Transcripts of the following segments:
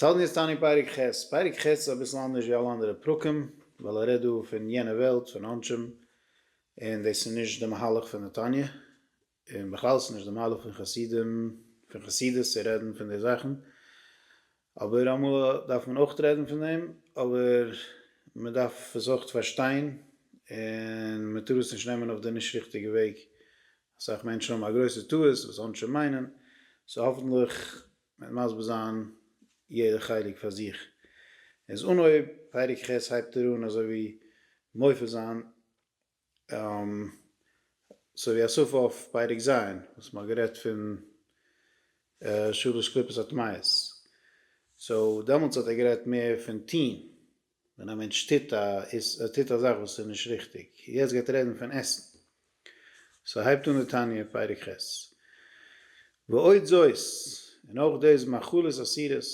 אונז האלטן יעצט אן אין פרק ח'. פרק ח' איז אביסל אנדערש ווי אלע אנדערע פרקים, ווייל ער רעדט דא פון יענע וועלט, פון עונשים, און דאס איז נישט די מהלך פון די תניא, און בכלל איז עס נישט די מהלך פון חסידים, פון חסידות צו רעדן פון די זאכן, אבער אמאל דארף מען אויך רעדן פון דעם, אבער מען דארף עס אויך פארשטיין, און מען טאר עס נישט נעמען אויף די נישט ריכטיגע וועג, אסאך מענטשן האבן א גרויסע טעות וואס עונשים מיינען, סאו האפנטליך מ'וועט מסביר זיין יעדע חלק פאר זיך. איז אנהויב פרק ח' הייבט ער אן אזוי ווי מופיע זיין אזוי ווי א סוף אויף פרק ז' וואס מ'האט גערעדט פון שלש קליפות הטמאות. סאו דעמאלטס האט ער גערעדט מער פון טוהן. ווען א מענטש טוט א איז ער טוט א זאך וואס איז נישט ריכטיג, יעצט גייט רעדן פון עסן, סאו הייבט אן די תניא פרק ח', ועוד זאת, און אויך דאס מאכלות אסירות,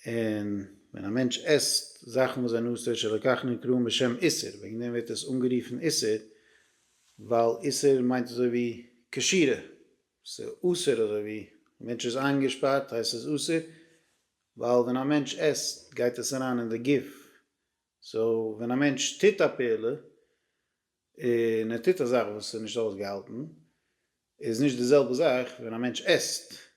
און ווען א מענטש עסט זאכן וואס זענען אסור שלא כך נקראין בשם איסור, וועגן דעם ווערט עס אנגערופן איסור, ווייל איסור מיינט אזוי ווי קשירה, ס'איז אסור אזוי ווי, מענטש איז איינגעשפארט הייסט ס'איז אסור, ווייל ווען א מענטש עסט גייט עס אריין אין די גוף, סאו ווען א מענטש טוט א פעולה און ער טוט א זאך וואס איז נישט אויסגעהאלטן איז נישט די זעלבע זאך ווען א מענטש עסט,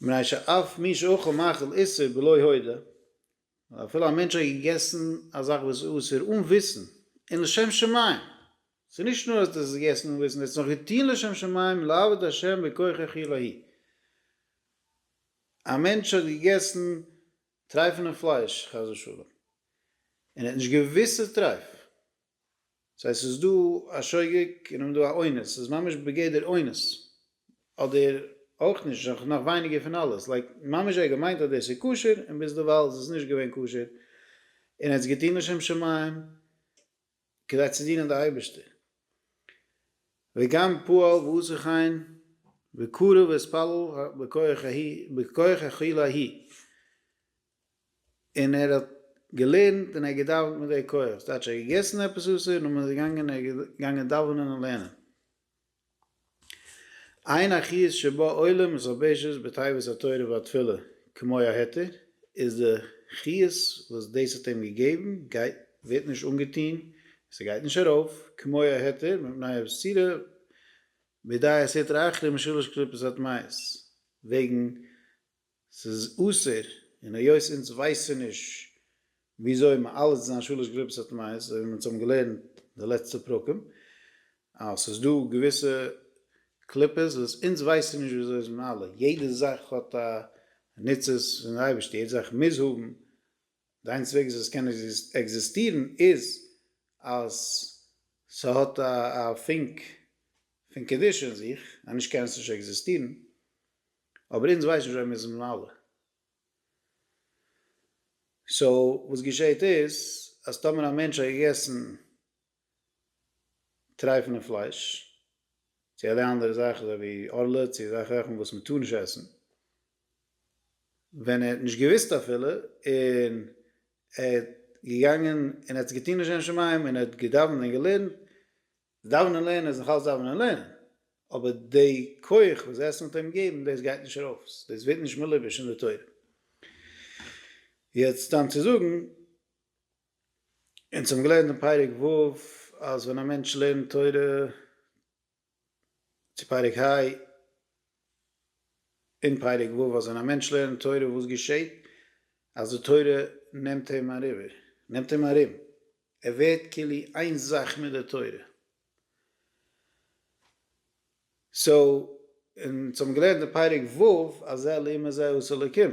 מנשה אף מי שאכל מאכל איסור בלא הודעה, ווייל אפילו א מענטש האט געגעסן א זאך וואס איז אסור אן וויסן, און לשם שמים, ס'איז נישט נאר אז דו האסט עס געגעסן אן וויסן, דו האסט עס נאך געטון לשם שמים, לעבוד השם בכוחך עילאי. א מענטש האט געגעסן טרייפענע פלייש, חס ושלום, און ער האט נישט געוואוסט ס'איז טרייף, סאו עס איז דא א שוגג און און דא א אונס, ס'איז ממש בגדר אונס, אדער אויך נישט, נאך נאך ווייניגער פון אלעס, לייק ממש ער האט געמיינט אז דאס איז כשר און ביז דערווייל איז עס נישט געווען כשר, און ער האט עס געטון לשם שמים כדי צו דינען די אייבערשטער. וגם פועל ועושה כן וקרב ואתפלל בכח האכילה ההיא. און ער האט געלערנט און ער האט געדאווענט מיט די כח, דאס הייטש ער האט געגעסן עפעס אסור און מען איז געגאנגען און ער איז געגאנגען דאווענען און לערנען. עיין החיז ש בא עולם איז הבעשט בתיבת התורה והתפילה כמו ההיתר איז די חיות וואס דאס האט אים געגעבן גייט ווערט נישט אנגעטוהן און ס'גייט נישט ארויף כמו ההיתר מפני הבסירה בידי הסטרא אחרא משלוש קליפות הטמאות וועגן ס'איז אסור, און היות אונז ווייסען נישט וויאזוי מען אלעס איז א שלש גרופעס הטמאות, אזוי ווי מ'האט אונז האבן געלערנט די לעצטע פרקים, אז ס'איז דא געוויסע קליפות וואס אונז ווייסען נישט וויאזוי זיי זענען אלע, יעדע זאך האט א ניצוץ פון די אייבערשטער, יעדע זאך מוז האבן די איינציגסטע וועג וואס עס קען עקזיסטירן איז אז ס'האט א פונק פון קדושה אין זיך, אנישט קען עס נישט עקזיסטירן, אבער אונז ווייסן שוין מיר זענען אלע. סאו וואס געשעהט איז אז טאמער א מענטש האט געגעסן טרייפן און פלייש, צו אלע אנדערע זאכן אזוי ווי ארלעט צו אזעלכע זאכן וואס מען טאר נישט עסן, ווען ער האט נישט געוואוסט אפילו און ער איז געגאנגען און ער האט עס געטון לשם שמים און ער האט געדאווענט און געלערנט, דאווענען און לערנען איז נאכאלץ דאווענען און לערנען, אבער די כח וואס עסן וועט אים געבן דאס גייט נישט ארויס, דאס ווערט נישט מלובש אין די תורה. יעצט סתם צו זאגן אונז האבן געלערנט אין פרק ו' אז ווען א מענטש לערנט תורה צו פרק ה' אין פרק ו' אז ווען א מענטש לערנט תורה וואס געשעט אז די תורה נעמט אים אריבער נעמט אים ארום ער ווערט כאילו איין זאך מיט די תורה סאו אונז האבן געלערנט אין פרק ו' אז אלו אומות זיי ארץ אלוקים.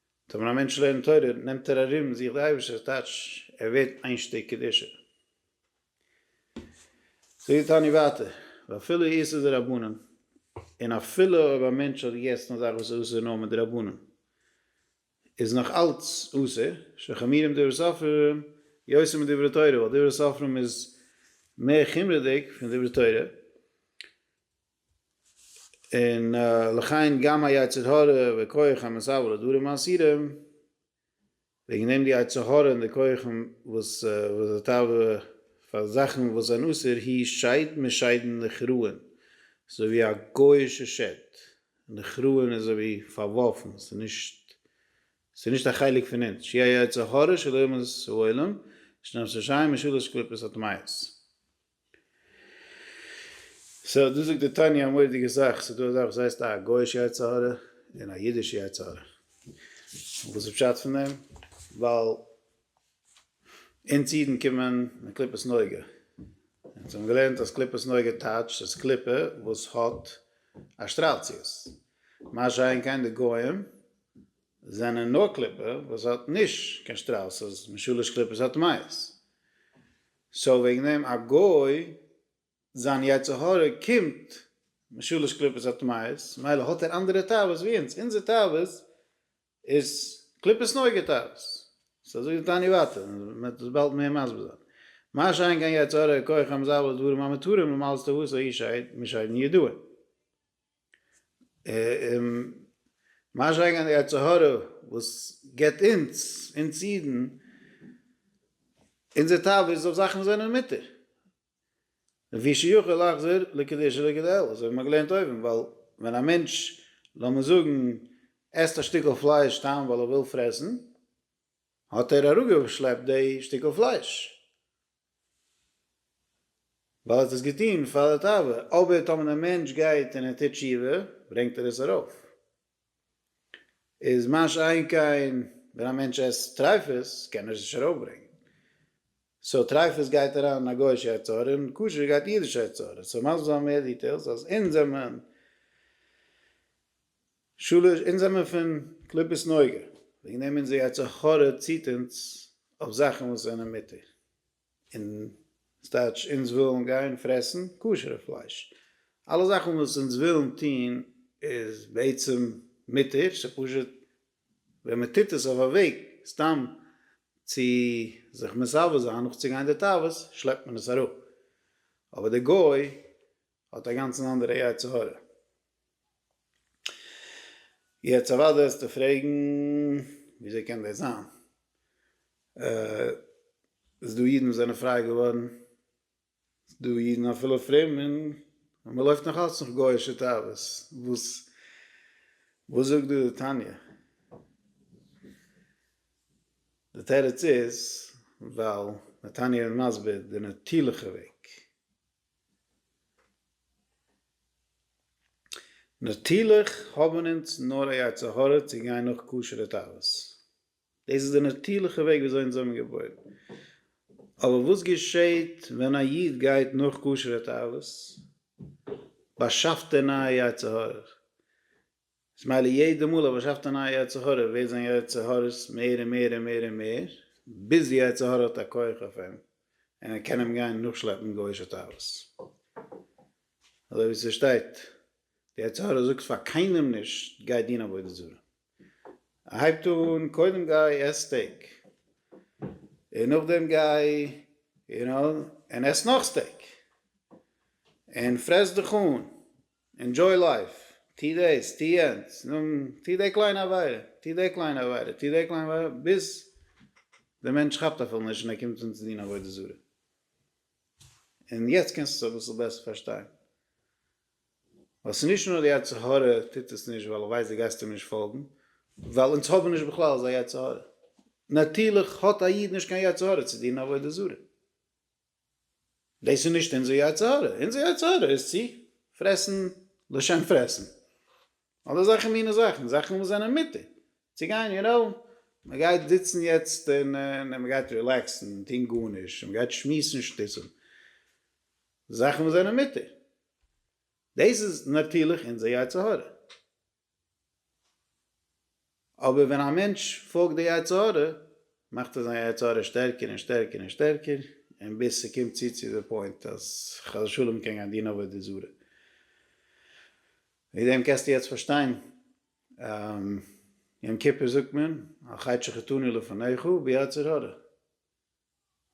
טא ווען א מענטש לערנט תורה נעמט ער ארום זיך די אייבערשטער טייטש ער ווערט איין שטיק קדושה. זאגט די תניא ווייטער ואפילו איסור דרבנן און אפילו אויב א מענטש האט געגעסן א זאך וואס איז אסור נאר מדרבנן איז נאך אלץ אסור שחמירים דברי סופרים יותר מדברי תורה ווייל דברי סופרים איז מער חומרה'דיג פון דברי תורה. און לכן גם היצר הרע וכח המסב ולדברים מאסירים, וועגן דעם די יצר הרע און די כחים וואס וואס די תאווה פאר זאכן וואס זענען אסור היא שד משדין נחרין, ס'איז אזוי ווי א גוי'אישע שד, נחרין איז אזוי ווי פארווארפן, ס'איז נישט ס'איז נישט א חלק פון אונז, שהיא היצר הרע של אומות העולם, שנאמר ששי משולש קליפות הטמאות. סאו דא זאגט די תניא א מורא'דיגע זאך, ס'איז דא א זאך וואס הייסט א גוי'אישע יצר הרע און א אידישע יצר הרע, און וואס איז פשט פון דעם? ווייל אונז אידן קומען מיט קליפות נוגה, אונז האבן געלערנט אז קליפות נוגה טייטשט אז קליפה וואס האט א שטראל צו עס, מה שאין כן די גוים זענען נאר קליפה וואס האט נישט קיין שטראל, ס'איז משולש קליפות הטמאות. סאו וועגן דעם א גוי זיין יצר הרע קומט משלש קליפות הטמאות מילא האט ער אנדערע תאוות ווי אונז, אונזער תאוות איז קליפות נוגע תאוות, סאו אזוי איז די תענית ווייטער, מ'וועט דאס באלד מער מסביר זיין. מה שאין כן יצר הרע כח המזבל לדברים המותרים למעלת תאוותו איש אינו משיידן ידוע. און ממש אריין גיין אין די יצר הרע וואס גיבט אונז, אונז אידן, אונזער תאווה איז אויף זאכן וואס זענען מותר. ווי שיכול להחזיר לקדושה לגדל, אזוי האט מען געלערנט אויבן, ווייל ווען א מענטש, לאמיר זאגן, עסט א שטיקל פלייש סתם ווייל ער וויל פרעסן, האט ער אראפגעשלעפט די שטיקל פלייש, ווייל ער האט עס געטון פאר די תאווה, אבער טאמער דער מענטש גייט און ער טוט תשובה, ברענגט ער עס ארויף. איז מה שאין כן ווען א מענטש עסט טריפות, קען ער עס נישט ארויפברענגען. סאו טריפות גייט אריין אין א גוי'אישע אוצר, און כשר גייט אידישע אוצר. עס איז מסביר זיין מער דיטעילס, אז אונז זעמען. שלש אונז זעמער פון קליפות נוגה, וועגן דעם אונזער יצר הרע ציט אונז אויף זאכן וואס זענען מותר, און ס'טייטש אונז ווילן גיין פרעסן כשר'ע פלייש, אלע זאכן וואס אונז ווילן טון איז בעצם מותר, ס'פשוט ווען מ'טוט עס אויף א וועג סתם צו זיך מסבב זיין נאכצוגיין די תאוות שלעפט מען עס אראפ, אבער די גוי האט א גאנצן אנדערע יצר הרע. יעצט אוודאי וועסטו פרעגן וויאזוי קען דאס זיין? עס איז דא אידן וואס זענען פריי געווארן, עס איז דא אידן אפילו פרום און מען לויפט נאך אלץ נאך גוי'אישע תאוות, וואס וואס זאגט דא די תניא? די תירוץ איז ווייל די תניא איז מסביר די נאטורליכע וועג. נאטירליך האבן אונז נאר א יצר הרע צו גיין נאך כשר'ע תאוות. דאס איז די נאטירליכע וועג וויאזוי אונז זעמיר געבוירן. אבער וואס געשעהט ווען א איד גייט נאך כשר'ע תאוות? באשאפט ער נייע יצר הרע'ך. סמיילי יעדע מאל ער באשאפט א נייע יצר הרע ווערט זיין יצר הרעות מער און מער און מער און מער ביז די יצר הרע האט א כח אויף אים און ער קען אים גיין נאכשלעפן גוי'שע תאוות אזוי ווי ס'שטייט די יצר הרע זאגט פאר קיינעם נישט גיי דין עבודה זרה ער הייבט אן קודם גיי עס סטעיק און נאכדעם גיי יו נאו און עס נאך סטעיק און פרעס דיך אן ענדזשוי לייף, טו דאס, טו יענץ, נאר טו די קליינע עבירה, טו די קליינע עבירה, טו די קליינע עבירה, ביז דער מענטש כאפט אפילו נישט און ער קומט אן צו דין עבודה זרה. און יעצט קענסטו עס אביסל בעסער פארשטיין. ווייל ס'איז נישט נאר די יצר הרע טוט עס נישט ווייל ער ווייסט דו גייסט אים נישט פאלגן, ווייל אונז האבן נישט בכלל אזא יצר הרע. נאטירליך האט א איד נישט קיין יצר הרע צו דינען עבודה זרה. דאס איז נישט אונזער יצר הרע, אונזער יצר הרע איז צו פרעסן לשם פרעסן, אדער אזעלכע מינע זאכן, זאכן וואס זענען מותר, צו גיין יו נאו, מען גייט זיצן יעצט און מען גייט רילעקסן, טון גארנישט, און מען גייט שמועסן שטותים, זאכן וואס זענען מותר, דאס איז נאטורליך אונזער יצר הרע. אבער ווען א מענטש פאלגט די יצר הרע, מאכט ער זיין יצר הרע שטערקער און שטערקער און שטערקער, און ביז ס'קומט צו צו די פוינט אז חס ושלום מ'קען גיין דינען עבודה זרה. וועגן דעם קענסטו יעצט פארשטיין יום כיפור זאגט מען, על חטא שחטאנו לפניך ביצר הרע.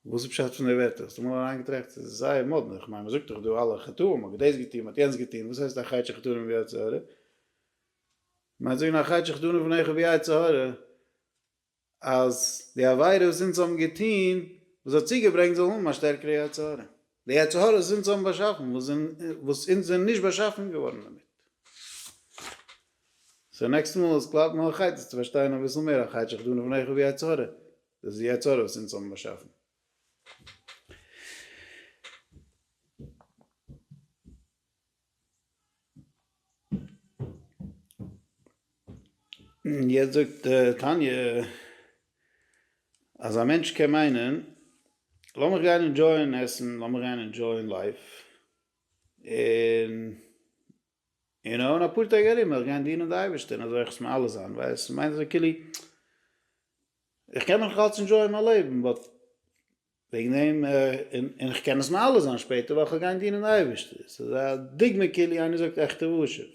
וואס איז פשט פון די ווערטער? האסטו אמאל אריינגעטראכט? עס איז זייער מאדנע, איך מיין מען זאגט דאך דא אלע חטאים, מען האט דאס געטון, מען האט יענץ געטון, וואס הייסט א חטא שחטאנו ובי יצר הרע? מיינסט זאגן א חטא שחטאנו בניך ובי יצר הרע אז די עבירה וואס אונז האבן געטון וואס האט צוגעברענגט זאל האבן א שטערקערע יצר הרע, די יצר הרע וואס אונז האבן באשאפן וואס אונז זענען נישט באשאפן געווארן דערמיט. סאו נעקסטע מאל עס קלאפט מיר א חית עס צו פארשטיין אביסל מער א חטא שחטאנו בניך ובי יצר הרע דאס איז די יצה ר וואס אונז האבן באשאפן. יעצט זאגט תניא אז א מענטש קען מיינען לאמיך גיין אינדזשויען עסן, לאמיך גיין אינדזשויען לייף, און און אן אפאר טעג ארום וועל איך גיין דינען די אייבערשטען אזוי איך עס מיר אלעס איין ווייל עס מיינט אזוי כאילו איך קען מיך נאכאלץ ענדשויען מיין לעבן באט וועגן דעם און און איך קען עס מיר אלעס איין שפעטער וועל איך גיין דינען די אייבערשטער עס איז א דוגמא כאילו איינער זאגט עכטע ווארשעפ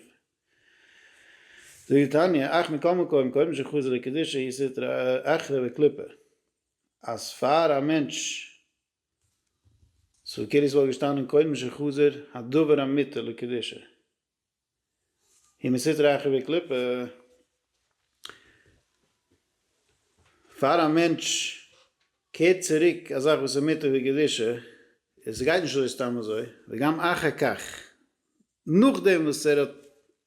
זאגט די תניא אכ מכל מקום קודם שחז ל קדישא היא סטרא אחרא וקליפא אז פאר א מענטש סאו כאילו ס'וואלט געשטאנען קודם שחזר הדבר אמיתו לקדושה היא מסתרה אחר בקליפה. פאר א מענטש קערט צוריק א זאך וואס אמיתו היא קדושה, און ס'גייט נישט אזוי סתם אזוי, וגם אחר כך נאכדעם וואס ער האט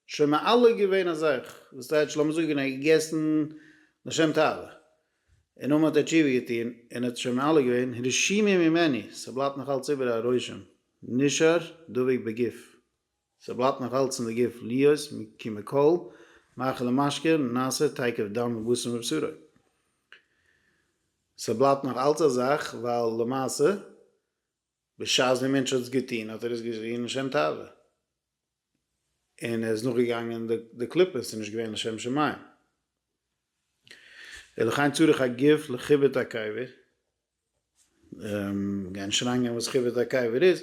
שוין מעלה געווען א זאך, וואס טייטש לאמיר זאגן ער האט געגעסן לשם תאווה, און אמאל האט ער תשובה געטון און האט שוין מעלה געווען, רשימה ממני, ס'בלייבט נאך אלץ איבער א רושם, נשאר דבק בגוף, ס'בלייבט נאך אלץ אין די גוף, להיות כמקובל, מאכל ומשקה, נעשה תיכף דם ובשר מבשרו. ס'בלייבט נאך אלץ א זאך, ווייל למעשה. בשעת דער מענטש האט עס געטון האט ער עס געטון לשם תאווה און ער איז נאכגעגאנגען די קליפות און נישט געווען לשם שמים. ולכן צריך הגוף לכיבוד הקבר, גיין שריין גיין וואס כיבוד הקבר איז,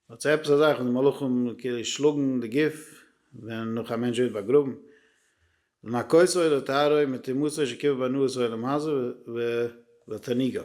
האט זיך עפעס א זאך וואס די מלאכים כאילו שלאגן די גוף ווען נאך א מענטש ווערט באגראבן, לנקותו ולטהרו מתרמוסו שכיבוד בנו את העולם הזה ותעניגיו.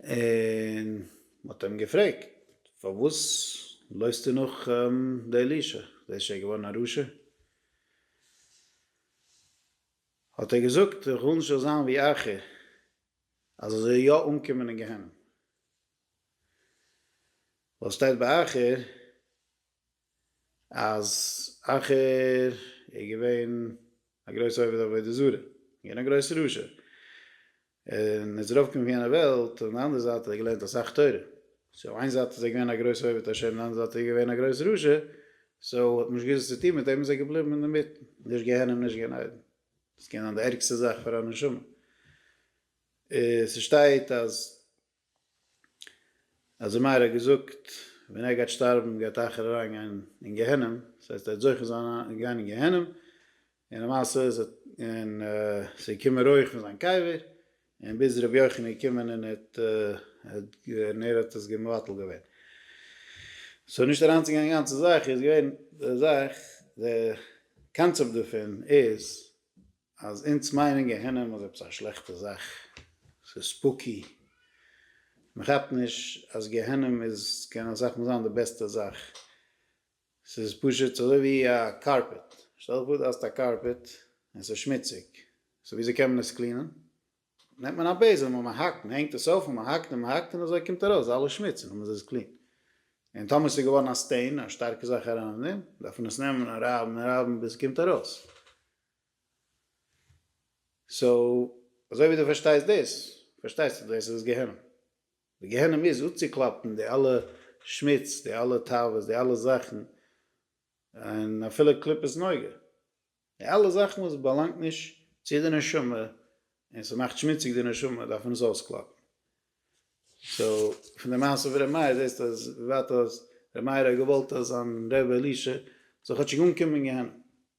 און מ'האט אים געפרעגט, פארוואס לויפסטו נאך די אלישע? ביסט שוין געווארן א רשע? האט ער געזאגט, איך וויל נישט איך זאל זיין ווי אחי, אז איך זאל יא אנקומען אין גיהנום. ווייל ס'שטייט ביי אחי. אז אחר איז געווען א גרויס עובד עבודה זרה, איז געווען א גרויס רשע, און איז ארויף געקומען פון יענע וועלט, און אנדערע זייט האט ער געלערנט אסאך תורה, סאו איין זייט איז ער געווען א גרויס עובד השם, און אנדערע זייט איז ער געווען א גרויס רשע, סאו האט מען נישט געוואוסט וואס צו טון מיט אים, איז ער געבליבן אינדערמיטן, נישט גיהנום נישט גן עדן, דאס קען זיין די ערגסטע זאך פאר א נשמה, עס שטייט אז אז די מהר א האט געזאגט ווען ער גייט שטארבן גייט אייכער אריין גיין אין גיהנום, דאס הייסט ער וועט זוכה זיין אריין גיין אין גיהנום, און למעשה איז ער און ס'איז געקומען רויעך פון זיין קבר, און ביז ר' יוחנן איז געקומען און האט און ער האט עס מבטל געווען. סאו נישט אריינצוגיין אין די גאנצע זאך איז געווען די זאך די קאנצעפט דערפון איז אז אונז מיינען גיהנום איז עפעס א שלעכטע זאך, ס'איז ספוקי, מען כאפט נישט אז גיהנום איז, קען אסאך מאל זיין די בעסטע זאך, ס'איז פשוט אזוי ווי א קארפעט, שטעל דיך פאר דו האסט א קארפעט און ס'איז שמוציג, סאו וויאזוי קען מען עס קלינען? נעמט מען א בעזעם און מען האקט, מען הענגט עס אויף און מען האקט און מען האקט און אזוי קומט ארויס אלע שמוץ און דעמאלס איז עס קלין, און טאמער ס'איז געווארן א סטעין, א שטארקע זאך אריין אין דעם, דארף מען עס נעמען און רייבן און רייבן ביז ס'קומט ארויס. סאו אזוי ווי דו פארשטייסט דאס, פארשטייסטו דאס איז גיהנום. די גיהנום איז אפצוקלאפן די אלע שמוץ, די אלע תאוות, די אלע זאכן, און אפילו קליפת נוגה, די אלע זאכן וואס באלאנגט נישט צו די נשמה, און ס'מאכט שמוציג די נשמה, דארף מען עס אויסקלאפן. סאו פון די מעשה פון ר' מאיר זעסטו אז וויבאלד ר' מאיר האט געוואלט אז זיין ר' אלישע זאל כאטשיג אנקומען אין גיהנום,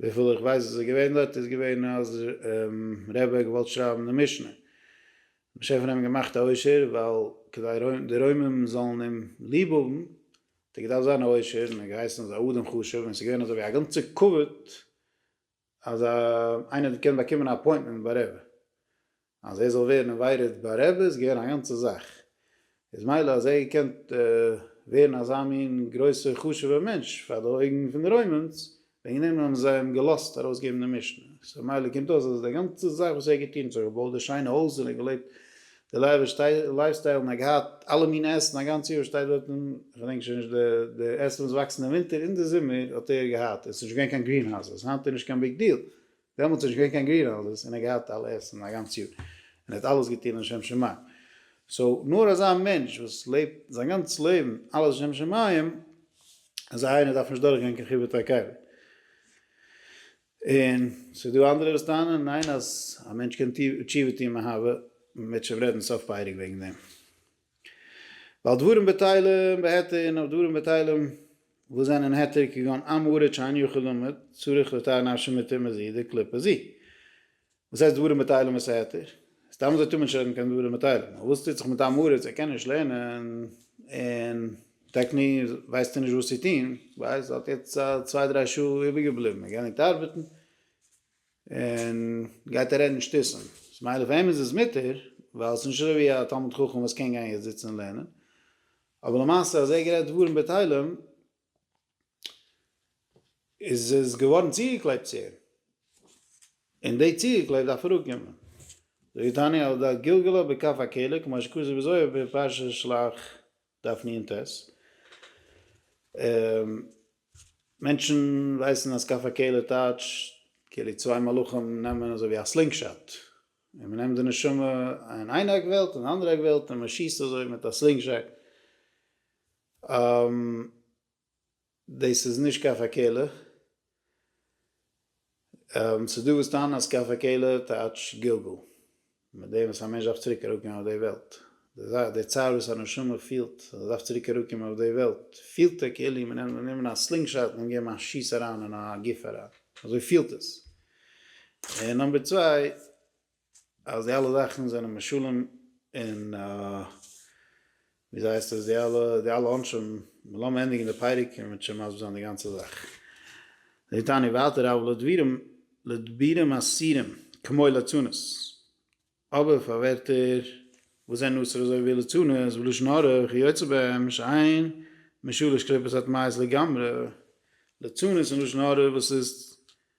וויפיל איך ווייס איז ער געווען דארט איז געווען אז ר' בער האט געוואלט שרייבן די משנה, משה האט פון אים געמאכט א עושר ווייל כדי די רוימים זאלן אים ליב האבן האט ער געדארפט זיין א עושר און ער האט געהייסן אז א אדם חשוב און עס איז געווען אזוי ווי א גאנצע כבוד אז איינער האט געקענט באקומען א אפוינטמענט ביי ר' אז ער זאל ווערן אינווייטעד ביי רעבע איז געווען א גאנצע זאך, איז מילא אז ער האט געקענט ווערן אזא מין גרויסע חשובע מענטש פאר די אויגן פון די רוימענס, וועגן דעם האבן זיי אים געלאזט ארויסגעבן די משנה, סאו מילא קומט אויס אז די גאנצע זאך וואס ער האט געטון, זיך געבויט די שיינע הויז און געלעבט די לאוויש לייף סטייל און געהאט אלע מינע עסן א גאנץ יאר שטייט דארט און כ'דענק שוין נישט די עסן וואס וואקסן אין ווינטער און די זומער האט ער געהאט און ס'איז נישט געווען קיין גרינהאוזעס היינט איז נישט קיין ביג דיעל דעמאלטס איז נישט געווען קיין גרין האוזעס און ער האט געהאט אלע עסן א גאנץ יאר און ער האט אלעס געטון לשם שמים סאו נאר אזא מענטש וואס לעבט זיין גאנץ לעבן אלעס לשם שמים אזא איינער דארף נישט דורך גיין קיין חיבור תקלה. און ס'איז דא אנדערע וואס טענה'ן ניין אז א מענטש קען תשובה טון מאהבה, מ'וועט שוין רעדן סוף פרק וועגן דעם. ועל דברים בטלים בהיתר און אויף דברים בטלים וואס זענען היתר כגון עם הארץ שאין יכול למוד צריך לתאר נפשו מתיר מזיד און קליפה זיע. וואס הייסט דברים בטלים וואס איז היתר? סתם אזוי טאר מען נישט לערנען קיין דברים בטלים. אבער וואס טוט זיך מיט עם הארץ? ער קען נישט לערנען און טעקני ווייסט ער נישט וואס צו טון, ווייל ער האט יעצט א צוויי דריי שעה איבערגעבליבן ער גייט ניטארבעטן, און גייט ער רעדן שטותים. ס'איז מילא פאר אים איז עס מותר, ווייל ס'איז נישט אזוי ווי א תלמיד חכם וואס קען גיין יעצט זיצן און לערנען, אבער למעשה אז ער האט גערעדט דברים בטלים, איז עס געווארן צוגעקלעבט צו אים, און די צוגעקלעבט דארף אראפקומען. זאגט דער תניא על דעת גלגלא בכף הקלע, כמו שכתוב בזוהר בפרשת שלח. דארף מיר אינטער ס. מענטשן ווייסן אז כף הקלע טייטש כאילו צוויי מלאכים נעמען אזוי ווי א סלינג שאט און מען נעמט די נשמה אין איין עק וועלט און אנדערע עק וועלט און מען שיסט אזוי מיט א סלינג שאט. דאס איז נישט קפה קעלער. ס'איז דא וואס טענה'ן אז קפה קעלער טייטש גלגול, מיט דעם וואס א מענטש דארף צוריק אראפקומען אויף די וועלט. די זאך, די צער וואס א נשמה פילט אז ער דארף צוריק אראפקומען אויף די וועלט, פילט ער כאילו מען נעמט גענומען א סלינג שאט און געבן א שיס אריין אין א גוף אריין. אזוי פילט עס. און נאמבער צוויי, אז די אלע זאכן זענען משלים און וויאזוי הייסט עס די אלע די אלע עונשים, לאמיר ענדיגן די פרק און מ'וועט שוין מסביר זיין די גאנצע זאך. זאגט תניא ווייטער אבל לדבירים לדבירים אסירים כמו לצנות, אבער פאר ווערטער וואס זענען אסור אזוי ווי לצנות ולשון הרע וכי' יוצא בהם שאין משולש קליפת הטמאות לגמרי, לצנות און לשון הרע וואס איז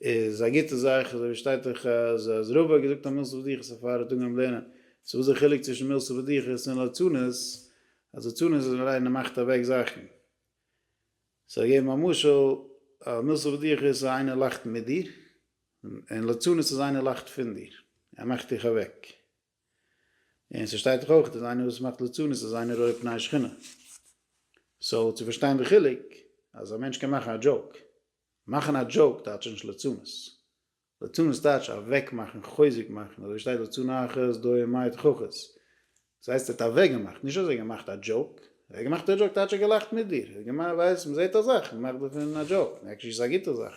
איז א גוטע זאך, אזוי ווי שטייט אין חז ל אז רבא האט געזאגט א מילתא פדיחת איז א פאררעטונג אויפן לערנען, סאו וואס איז די חילוק צווישן מילתא פדיחת און לצנות, אז לצנות איז אליין ער מאכט אוועק זאכן, סאו ער געבן א משל אז מילתא פדיחת איז איינער לאכט מיט דיר, און לצנות איז איינער לאכט פון דיר, ער מאכט דיך אוועק. און ס'שטייט דאך אויך אז איינער וואס מאכט ליצנות איז איינער רואה פני שכינה. סאו צו פארשטיין די חילוק אז א מענטש קען מאכן א דזשאוק. מאכן א דזשאוק טייטש נישט ליצנות. ליצנות טייטש אוועק מאכן, חוזק מאכן, אזוי ווי שטייט ליצן אחת דוה מאי את חכות. דאס הייסט ער האט אוועק געמאכט, נישט אז ער האט געמאכט א דזשאוק. אוועק געמאכט א דזשאוק טייטש ער האט געלאכט מיט דיר. ער האט געמיינט ווייסט מ'זעט א זאך מ'מאכט דערפון א דזשאוק. עקשעלי איז עס א גוטע זאך.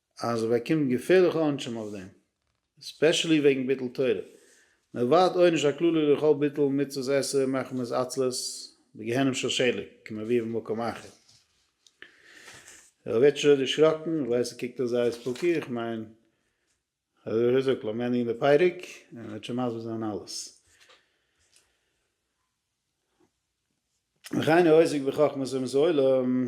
אז זיי באקומען געפערליכע עונשים אויף דעם, ספעשעלי וועגן ביטול תורה, מען ערווארט עונש הכללי לכל ביטול מצוות עשה מחמת עצלות בגיהנום של שלג כמו ווי במקום אחר. רבי וויטשער האט דערשראקן, איך ווייס ער קוקט אויס זייער ספוקי, איך מיין אז ווי ער האט געזאגט לאמיר ענדיגן די פרק און ער וועט שוין מסביר זיין אלעס. וכן העוסק בחכמת אומות העולם.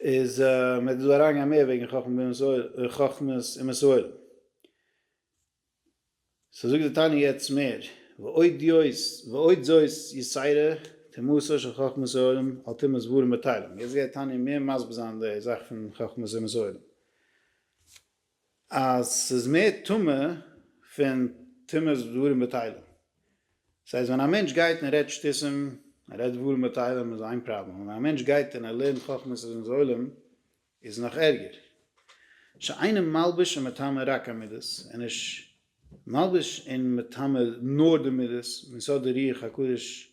איז מען וועט דא אריינגיין מער וועגן חכם בן מסעוד חכמת אום מסעוד. סאו זאגט די תניא יעצט מער ועוד יוס ועוד זאת יסיירא תמותו של חכמת העולם על תימא סבורין בתהלים יעצט גייט תניא מער מסביר זיין די זאך פון חכמת אום מסעוד. אז ס'איז מער טעמא פון טומאת דברים בטלים. ס'הייסט ווען א מענטש גייט און רעדט שטותים, ער רעדט דברים בטלים איז איין פראבלעם, און ווען א מענטש גייט און ער לערנט חכמות און זוהלים איז נאך ערגער. שאינו מלביש ומטמא רק המידות, ער איז נישט מלביש און מטמא נאר די מידות, מצד די רוח הקודש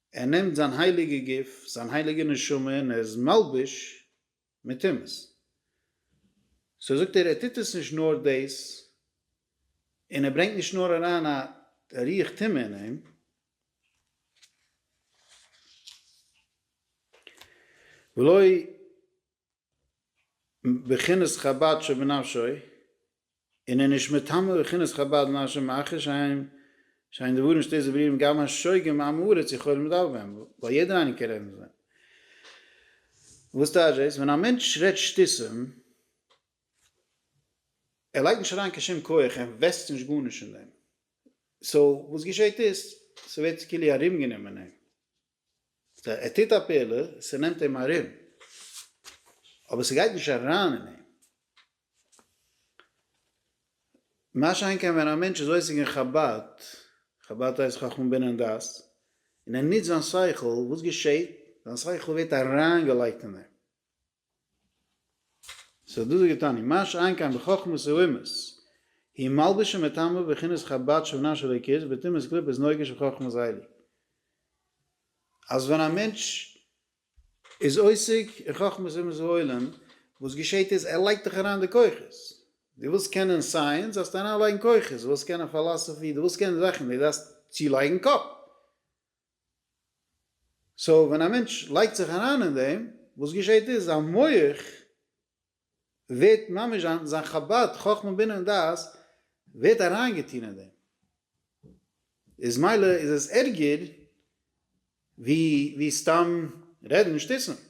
ער נעמט זיין הייליגע גוף, זיין הייליגע נשמה און ער איז מלבוש מיט טומאות. סאו זאגט ער, ער טוט עס נישט נאר דאס, און ער ברענגט נישט נאר אריין א ריח טומאה אין אים, ולא בחינת חבד שבנפשו, און איז נישט מטמא בחינת חבד נפשו מאחר שאין שאין דברים שתי זברירים גם השוגה מעם הארץ יכולים לדבר בהם, ווייל יעדער איינער קען רעדן מיט זיי. וואס טייטש דאס? ווען א מענטש רעדט שטותים, ער לייגט נישט אריין קיין שום כח, ער אינוועסט נישט גארנישט אין דעם, סאו וואס געשעט איז, ס'ווערט כאילו ארומגענומען אים. ער טוט א פעלער, ס'נעמט אים ארום, אבער ס'גייט נישט אריין אין אים. מה שאין כן ווען א מענטש איז עוסק אין חבד, חבד הייסט חכם בינה און דעת, און ער נוצט זיין שכל, וואס געשעט? זיין שכל ווערט אריינגעלייגט אין אים. ס'האט דאס געטאן און מה שאין כן בחכמות האומות היא מלבישה מטעמו בכינוס חבד שבנה של הק' בתמימות קליפות נוגה של חכמת הייליג אז ווען א מענטש איז עוסק אין חכמות אומות העולם וואס געשעהט איז ער לייגט דאך אריין די כוחות דו ווילסט קענען סייענס זאלסטו אריינלייגן כוחות דו ווילסט קענען פאלאסעפי דו ווילסט קענען זאכן דו דארפסט צולייגן קאפ. סאו ווען א מענטש לייגט זיך אריין אין דעם, וואס געשעהט איז זיין מח ווערט ממש זיין זיין חבד, חכמה בינה און דעת, ווערט אריינגעטוהן אין דעם, איז מילא איז עס ערגער ווי ווי סתם רעדן שטותים.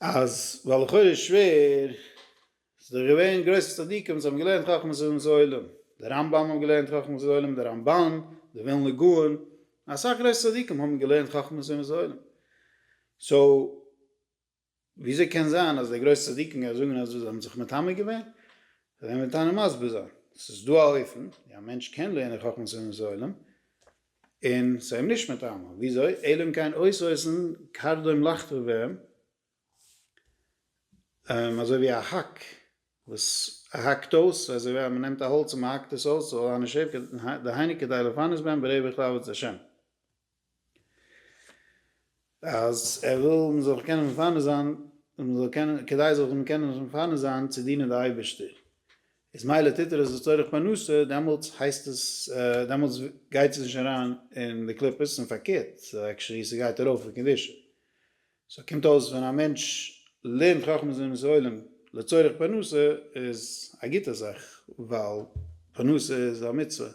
אז ווייל לכאורה איז שווער, ס'איז דאך געווען גרויסע צדיקים וואס האבן געלערנט חכמת אדם זו עולם, דער רמב ם האט געלערנט חכמת זו עולם, דער רמבן, דער ווילנא גאון, אסאך גרויסע צדיקים האבן געלערנט חכמת אדם זו עולם, סאו וויאזוי קען זיין אז די גרויסע צדיקים גייען זאגן אז זיי האבן זיך מטמא געווען? זיי וועלן מיט איינעם מסביר זיין, ס'איז דא א אופן ווי א מענטש קען לערנען חכמת אדם זו עולם, און ס'איז אים נישט מטעמו, וויאזוי? אלא אם כן אויסוואוסן קרדום לחטא בהם, אזוי ווי א האק וואס האקט אויס, אזוי ווי אז מ'נעמט א האלץ און מ'האקט עס אויס, ס'זאל אנע שעפ ק דהיינו כדי לפרנס בהם ברעב וכלוות את השם. אז ער וויל מען זאל זיך קענען מפנה זיין, און מען זאל קענען, כדי זאל מען קענען זיך מפנה זיין צו דינען די אייבערשטער, איז מילא טוט ער עס לצורך פרנסה, דעמאלטס הייסט עס, דעמאלטס גייט עס נישט אריין אין די קליפות, און פארקערט, עקשעלי ס'גייט ארויף אין קדושה. סאו קומט אויס ווען א מענטש לערנט חכמת זון און סעולים לצורך פרנסה איז א גוטע זאך, ווייל פרנסה איז א מצוה,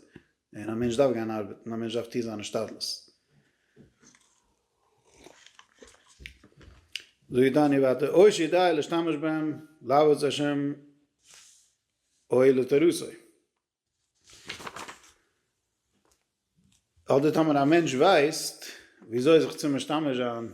און א מענטש דארף גיין ארבעטן, א מענטש דארף טוהן זיין השתדלות. זאגט דאניעל ווייטער, אויש ידעי להשתמש בהם לעבוד את השם אוי לתורתו. אדער טאמער א מענטש ווייסט וויאזוי זיך צו משתמש זיין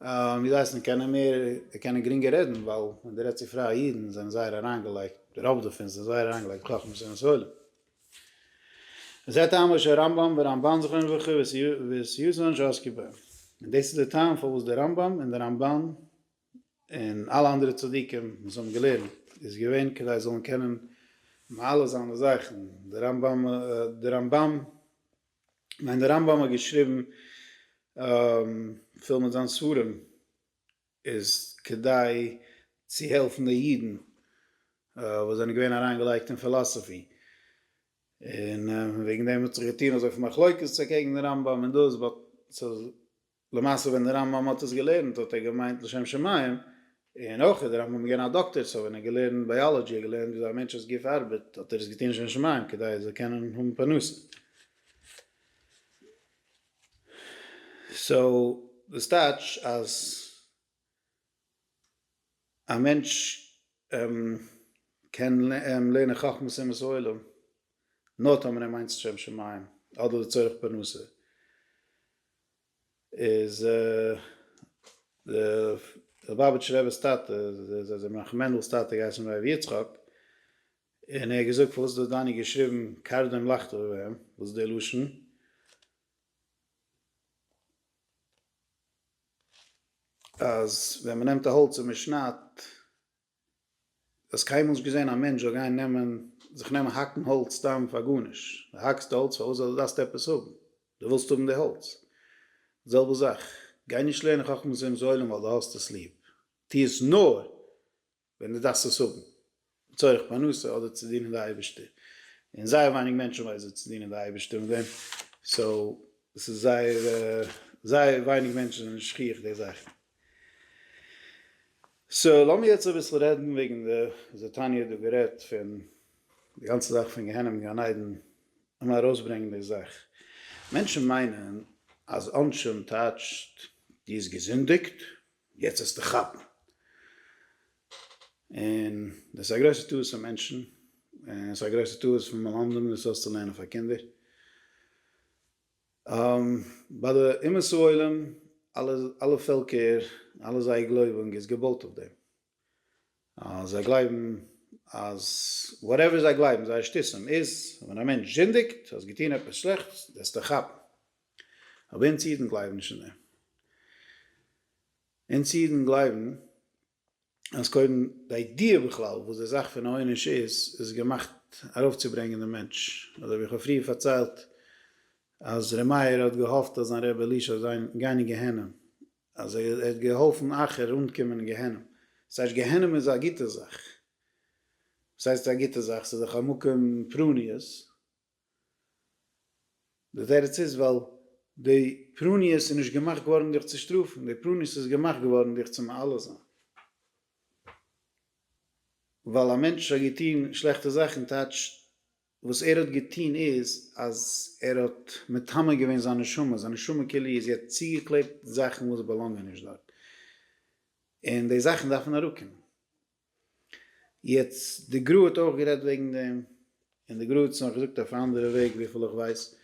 ווי זיי הייסן קענען מער קענען גרינגער רעדן ווייל ווען די רעדסט צו פרייע אידן זענען זייער אריינגעלייגט די רוב דערפון זענען זייער אריינגעלייגט בחכמת ספרים ספרים וזה טעמו של רמבם ורמבן זכרון לברכה וסיוזון שעסקו בהם און דאס איז די טעם פארוואס די רמבם און די רמבן און אלע אנדערע צדיקים וואס האבן געלערנט איז געווען כדי זיי זאלן קענען מעלה זיין די זאכן די רמבם די רמבם מיין דער רמב ם האט געשריבן פיל מיט זיין ספרים איז כדי צו העלפן די אידן וואס זענען געווען אריין געלייגט אין פילאסעפי און וועגן דעם האט זיך געטון אזויפיל מחלוקת אקעגן דעם רמב ם און דאס באט למעשה ווען דער רמב ם האט עס געלערנט האט ער געמיינט לשם שמים, און אויך איז דער רמב ם געווען א דאקטער סאו ווען ער האט געלערנט בייאלאדזשי ער געלערנט וויאזוי א מענטש'ס גוף ארבעט האט ער עס געטון לשם שמים כדי ער זאל קענען האבן פרנסה. סאו דאס טייטש אז. א מענטש קען לערנען חכמות אומות העולם נאר טאמער ער מיינט עס לשם שמים אדער לצורך פרנסה, איז די ליובאוויטשער רב'ס טאטע, זיי זענען ר' מענדל'ס טאטע געהייסן ר' יצחק, און ער האט געזאגט פארוואס האט דני געשריבן קרדום לחטא ובהמ, וואס איז דער לשון? אז ווען מען נעמט א האלץ און מען שניידט, האסט קיינמאל נישט געזען א מענטש זאל גיין נעמען, זיך נעמען האקן האלץ סתם פאר גארנישט, דו האקסט האלץ פארוואס זאל, דו דארפסט עפעס האבן, דו ווילסט האבן די האלץ, די זעלבע זאך, גיי נישט לערנען חכמת אומות העולם ווייל דו האסט עס ליב, טו עס נאר ווען דו דארפסט עס האבן לצורך פרנסה אדער צו דינען די אייבערשטער, און זייער ווייניג מענטשן ווייסן צו דינען די אייבערשטער מיט דעם, סאו עס איז זייער זייער ווייניג מענטשן זענען שכיח די זאכן. סאו לאמיר יעצט אביסל רעדן וועגן די וויאזוי תניא האט דא גערעדט פון די גאנצע זאך פון גיהנום און גן עדן, לאמיר ארויסברענגען די זאך, מענטשן מיינען אז עונשים טייטשט דו האסט געזינדיגט יעצט וועסטו כאפן. און דאס איז א גרויסע טעות פון מענטשן, און עס איז א גרויסע טעות פון מלמדים דאס אויסצולערנען פאר קינדער. ביי די אומות העולם, אלע אלע פעלקער, אלע זייער גלויבונג איז געבויט אויף דעם. זיי גלייבן אז וואטעווער זיי גלייבן, זייער שטותים איז, ווען א מענטש זינדיגט, האסט געטון עפעס שלעכטס, וועסטו כאפן. אבער אונז אידן גלייבן נישט אין דעם. אונז אידן גלייבן אז קודם די איידיע בכלל וואס די זאך פון עונש איז, איז געמאכט ארויפצוברענגען דעם מענטש. אזוי ווי איך האב פריער פארציילט אז ר' מאיר האט געהאפט אז זיין רבי אלישע וועט זיין גיין אין גיהנום, אז ער האט געהאלפן אחר אנקומען אין גיהנום. דאס הייסט גיהנום איז א גוטע זאך. וואס הייסט א גוטע זאך? ס'איז דאך א מקום פרעניות. די תירוץ איז ווייל די פרניות איז נישט געמאכט געווארן דיך צו שטראפן, די פרניות איז געמאכט געווארן דיך צו מעלה זיין. ווייל א מענטש האט געטון שלעכטע זאכן טייטש וואס ער האט געטון איז אז ער האט מטמא געווען זיין נשמה, זיין נשמה כלי איז יעצט צוגעקלעבט זאכן וואס באלאנגען נישט דארט, און די זאכן דארפן אראפקומען. יעצט די גרא האט אויך גערעדט וועגן דעם, און די גרא האט עס נאך געזאגט אויף א אנדערע וועג וויפיל איך ווייס,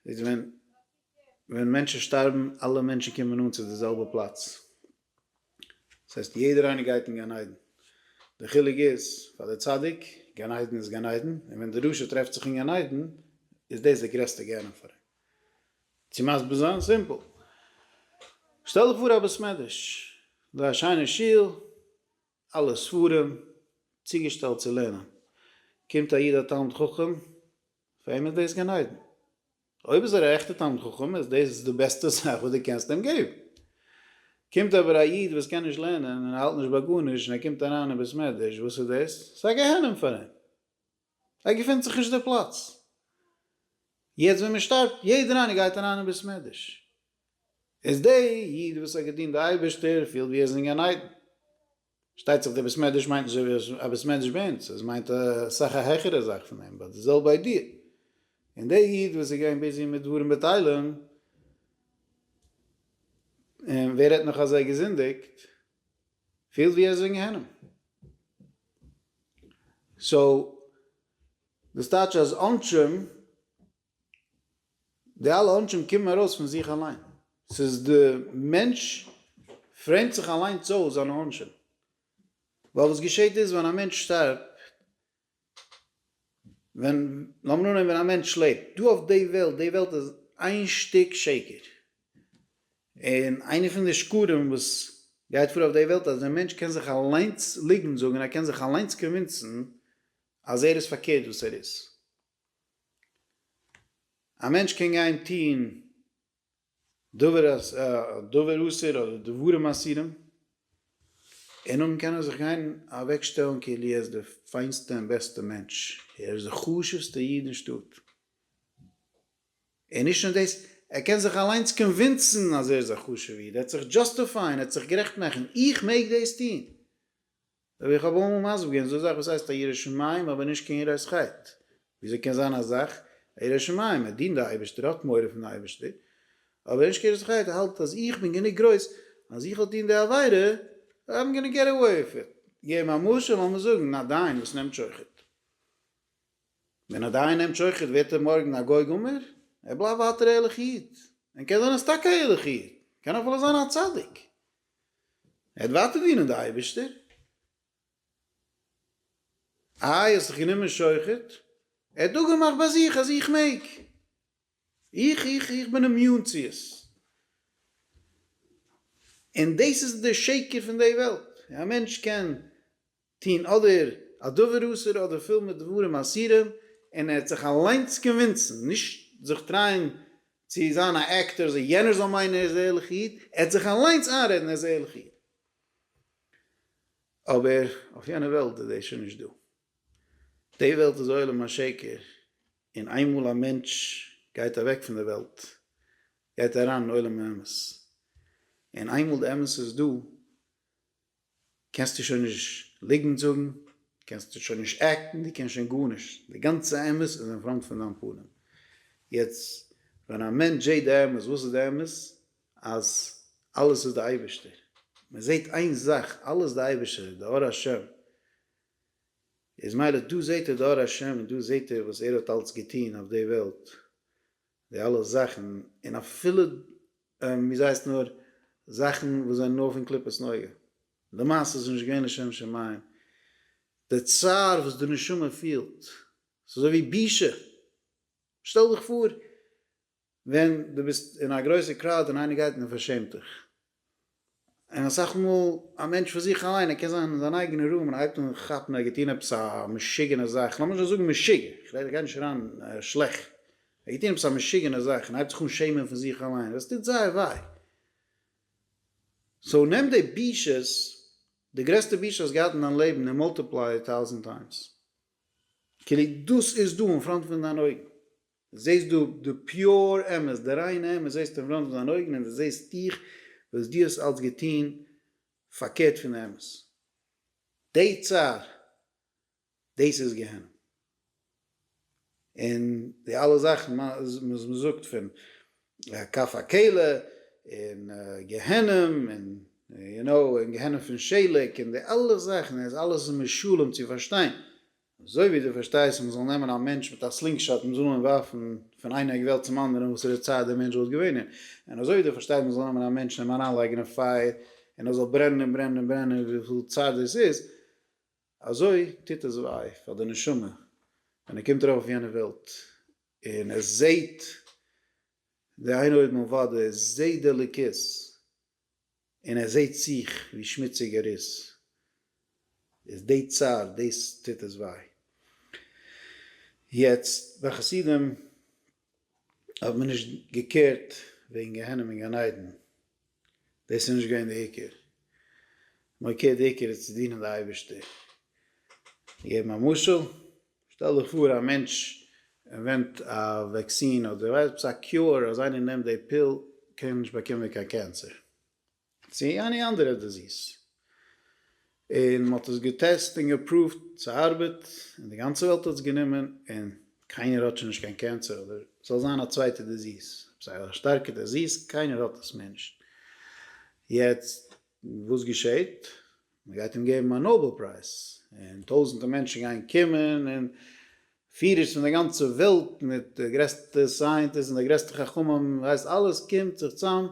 איז ווען ווען מענטשן שטארבן אלע מענטשן קומען אן צו די זעלבע פלאץ, דאס הייסט יעדער איינער גייט אין גן עדן, די חילוק איז פאר די צדיק גן עדן איז גן עדן, און ווען די רשע טרעפט זיך אין גן עדן איז דאס די גרעסטע גיהנום פאר אים. צו מסביר זיין סימפל. שטעל דיך פאר א בית מדרש, דא א שיינע שול, אלע ספרים צוגעשטעלט צו לערנען, קומט א איד א תלמיד חכם, פאר אים איז דאס גן עדן. אויב איז ער א עכטע תלמיד חכם איז דאס די בעסטע זאך וואס דו קענסט אים געבן. קומט אבער א איד וואס קען נישט לערנען און האלט נישט ביי גארנישט און ער קומט אריין אין בית מדרש, וואס איז דאס? ס'איז א גיהנום פאר אים. ער געפינט זיך נישט די פלאץ. יעצט ווען מען שטארבט יעדער איינער גייט אריין אין בית מדרש. איז די איד וואס האט געדינט די אייבערשטער פילט ווי ער איז אין גן עדן. פארשטייט זיך די בית מדרש מיינט נישט אזוי א בית מדרש ביי אונז, עס מיינט אסאך א העכערע זאך פון דעם, באט די זעלבע איידיע. און די איד וואס איז געווען ביזי מיט דברים בטלים, און ווער רעדט נאך אז ער האט געזינדיגט, פילט ווי ער איז אין גיהנום. סאו דאס טייטש אז עונשים, די אלע עונשים קומען ארויס פון זיך אליין. ס'איז די מענטש פרעימט זיך אליינס אויס זיינע עונשים. ווייל וואס געשעהט איז ווען א מענטש שטארבט ווען, לאמיר אננעמען ווען א מענטש לעבט דא אויף די וועלט, די וועלט איז איין שטיק שקר, און איינע פון די שקרים וואס גייט פאר אויף די וועלט אז דער מענטש קען זיך אליינס ליגנט זאגן און ער קען זיך אליינס קאנווינסן אז ער איז פארקערט וואס ער איז. א מענטש קען גיין טון דבר אסור אדער דברים אסורים, און נאכדעם קען ער זיך גיין אוועק שטעלן כאילו ער איז די פיינסטע און בעסטע מענטש, ער איז די חשובסטע איד אין שטאט, און נישט נאר דאס, ער קען זיך אליינס קאנווינסן אז ער איז א חשובע איד, ער וועט זיך דזשאסטיפייען, ער וועט זיך גערעכט מאכן, איך מעג דאס טון, רבי איך האב אמאל מסביר געווען אזא זאך וואס הייסט א ירא שמים אבער נישט קיין יראת חטא, וויאזוי קען זיין א זאך א ירא שמים ער דינט די אייבערשטער האט מורא פון די אייבערשטער אבער נישט קיין יראת חטא ער האלט אז איך בין גענוג גרויס אז איך זאל טון די עבירה און איים גאנע געט עוועי וויט איט. געב א משל לאמיר זאגן א דיין וואס נעמט שוחד. ווען א דיין נעמט שוחד ווערט ער מארגן א גוי גמור? ער בלייבט ווייטער א ערליכע איד. און קען זיין ער איז טאקע א ערליכע איד. קען אפילו זיין א צדיק. ער האט ווייטער דינען די אייבערשטער. איי האסט דיך גענומען שוחד? ער האט אפגעמאכט ביי זיך אז איך מעג. איך איך איך בין אימיון צו עס. און דאס איז די שקר פון די וועלט. א מענטש קען טוהן אדער א דבר אסור אדער פול מיט דברים אסורים, און ער האט זיך אליינס קאנווינסן, נישט זיך טרייען צו זיין א עקטער אזוי יענער זאל מיינען ער איז א ערליכע איד, ער האט זיך אליינס איינרעדן ער איז א ערליכע איד. אבער אויף יענע וועלט איז דאס שוין נישט דא. די וועלט איז עולם השקר, און איינמאל א מענטש גייט אוועק פון די וועלט גייט ער אריין אין עולם האמת, און איינמאל די אמת איז דא, קענסטו שוין נישט ליגענט זאגן, קענסטו שוין נישט עקטן, דו קענסט שוין גארנישט, די גאנצע אמת איז אין פראנט פון דיין פנים. יעצט ווען א מענטש זעט די אמת, וואס איז די אמת? אז אלעס איז די אייבערשטער, מען זעט איין זאך, אלעס די אייבערשטער, די אור השם, איז מילא דא זעט ער די אור השם, דא זעט ער וואס ער האט אלץ געטון אויף די וועלט, די אלע זאכן און אפילו ווי ס'הייסט נאר זאכן וואס זענען נאר פון קליפת נוגה. למעשה איז נישט געווען לשם שמים. די צער וואס די נשמה פילט, ס'איז אזוי ווי בושה. שטעל דיך פאר ווען דו ביסט אין א גרויסע קראוד און איינער גייט און פארשעמט דיך. און אסאך מאל א מענטש פאר זיך אליין ער קען זיין אין זיין אייגענע רוים און הייבט אן כאפן ער האט געטון עפעס א משוגענע זאך, לאמיר נישט זאגן משוגע, כ'רעד גיי נישט אריין שלעכט, ער האט געטון עפעס א משוגענע זאך און הייבט זיך אן שעמען פון זיך אליין, דאס טוט זייער וויי. סאו נעם די בושות, די גרעסטע בושה האסט געהאט אין דיין לעבן און מאלטיפליי איט טאוזענט טיימס, כאילו דאס איז דא אין פראנט פון דיינע אויגן. דו זעסט דא די פיור אמת, די ריינע אמת, זעסט אין פראנט פון זיינע אויגן און דו זעסט דיך וואס דו האסט אלץ געטון פארקערט פון די אמת. די צער, דאס איז גיהנום. און די אלע זאכן וואס מען זאגט פון כף הקלע און גיהנום און יו נאו און גיהנום פון שעליק און די אלע זאכן איז אלעס משלים צו פארשטיין אזוי ווי דו פארשטייסט מען זאל נעמען א מענטש מיט א סלינגשאט און זאלן אים ווארפן פון איין עק וועלט צום אנדערן וואסערע צייט דער מענטש וואלט געווען אין, און אזוי ווי דו פארשטייסט מען זאל נעמען א מענטש און אים אריינלייגן אין פייער און ער זאל ברענען און ברענען און ברענען וויפיל צייט דאס איז, אזוי טוט עס וויי פאר די נשמה ווען ער קומט ארויף אויף יענע וועלט און ער זעט די איינעויגן אויף וואדע, ער זעט די אלוקות. און ער זעהט זיך ווי שמוציג ער איז, איז די צער, דאס טוט עס וויי. יעצט, ביי חסידים האט מען נישט געקערט וועגן גיהנום און גן עדן, דאס איז נישט געווען די עיקר, מ'האט געקערט די עיקר איז צו דינען די אייבערשטער, געבן א משל. שטעל דיך פאר א מענטש ערווענט א וועקסין אדער ווייסט עפעס א קיור אז איינער נעמט די פיל קען ער נישט באקומען קיין קענסער צי עני אנדערע דיזיס און מען האט עס געטעסט און געפראווט ס'ארבעט און די גאנצע וועלט האט עס גענומען און קיינער האט שוין נישט קיין קענסער אדער ס'זאל זיין א צווייטע דיזיס עפעס א שטארקע דיזיס קיינער האט עס מער נישט יעצט וואס געשעהט מען גייט אים געבן א נאבעל פרייז, און טויזענטער מענטשן גייען קומען, און פירערס פון די גאנצע וועלט, מיט די גרעסטע סייענטיסט און די גרעסטע חכמים, ווייסט אלעס קומט זיך צאם,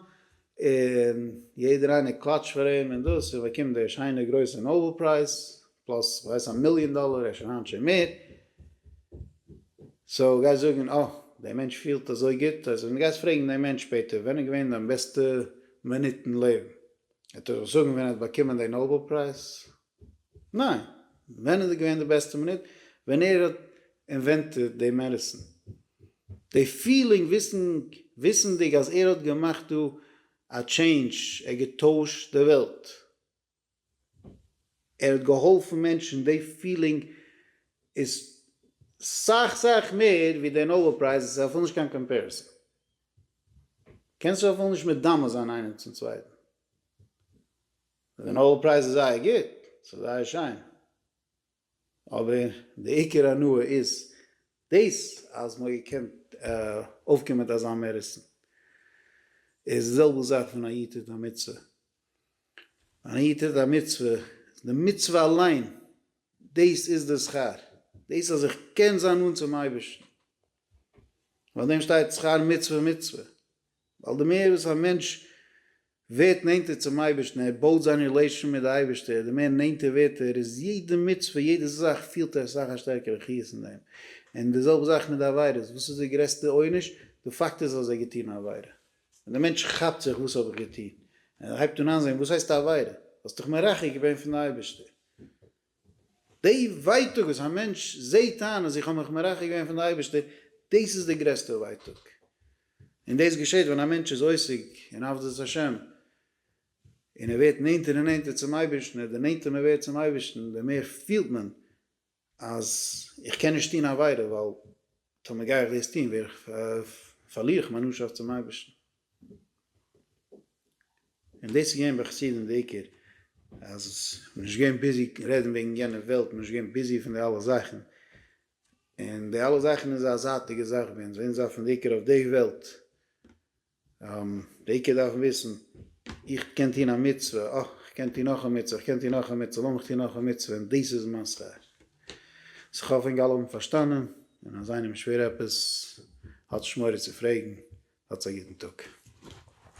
און יעדער איינער קלאטשט פאר אים, און דאס, און ער באקומט די שיינע גרויסע נאבעל פרייז, פלאס כ'ווייס א מיליאן דאלער, אפשר היינט שוין מער, סאו גייסט זאגן אה, דער מענטש פילט אזוי גוט, אז ווען דו גייסט פרעגן דעם מענטש שפעטער ווען איז געווען דיין בעסטע מינוט אין לעבן, ער טאר דאך זאגן ווען ער האט באקומען די נאבעל פרייז? ניין! ווען איז געווען די בעסטע מינוט? ווען ער האט אינווענטעד די מעדיסין! די פילינג וויסענדיג אז ער האט געמאכט דא א טשעינדזש, ער האט געטוישט די וועלט, ער האט געהאלפן מענטשן, די פילינג איז סך סך מער ווי די נאבעל פרייז, עס האט אפילו נישט קיין קאמפעריסאן. קענסט זיך אפילו נישט מדמה זיין איינעם צום צווייטן. די נאבעל פרייז איז זייער גוט, ס'איז זייער שיין, אבער די עיקר הנאה איז דאס אז מ'האט געקענט אויפקומען מיט אזא מעריסטן. איז די זעלבע זאך פון א איד טוט א מצוה. אן איד טוט א מצוה, די מצוה אליין, דאס איז די שכר. דאס אז איך קען זיין נאנט צום אייבערשטן. אויף דעם שטייט שכר מצוה מצוה, ווייל די מער וואס א מענטש ווערט נענטער צום אייבערשטן, ער בויט זיין רילעישאן מיט די אייבערשטער, די מער נענטער ווערט ער, איז יעדע מצוה, יעדע זאך פילט ער אסאך א שטערקערע חיות אין דעם, און די זעלבע זאך מיט די עבירות, וואס איז די גרעסטע עונש? די פאקט איז אז ער האט געטון א עבירה, און די מענטש כאפט זיך וואס האב איך געטון, און ער הייבט אן איינזען וואס הייסט א עבירה, האסט דיך מרחק געווען פון די אייבערשטער. די ווייטאג וואס א מענטש זעהט איין אז איך האב מיך מרחק געווען פון די אייבערשטער, דאס איז די גרעסטע ווייטאג, און דאס געשעהט ווען א מענטש איז עוסק אין עבדות השם, און ער ווערט נענטער און נענטער צום אייבערשטן, און די נענטער מען ווערט צום אייבערשטן די מער פילט מען אז איך קען נישט טון עבירה, ווייל טאמער גיי איך דאס טון ווער איך, פארליר איך מיין נאנטשאפט צום אייבערשטן. און דאס איז געווען ביי חסידים די עיקר, אז מען איז נישט געווען ביזי רעדן וועגן יענע וועלט, מען איז נישט געווען ביזי פון די אלע זאכן, און די אלע זאכן איז א זייטיגע זאך ביי אונז, אונז דארפן די עיקר אויף די וועלט, די עיקר דארפן וויסן, איך קען טון א מצוה, אה, איך קען טון נאך א מצוה, איך קען טון נאך א מצוה, לאמיך טון נאך א מצוה, און דאס איז מיין שכר. ס'כאפ אינג אלע האבן פארשטאנען און אז איינעם איז שווער עפעס האט נישט מורא צו פרעגן האטס א גוטן טאג.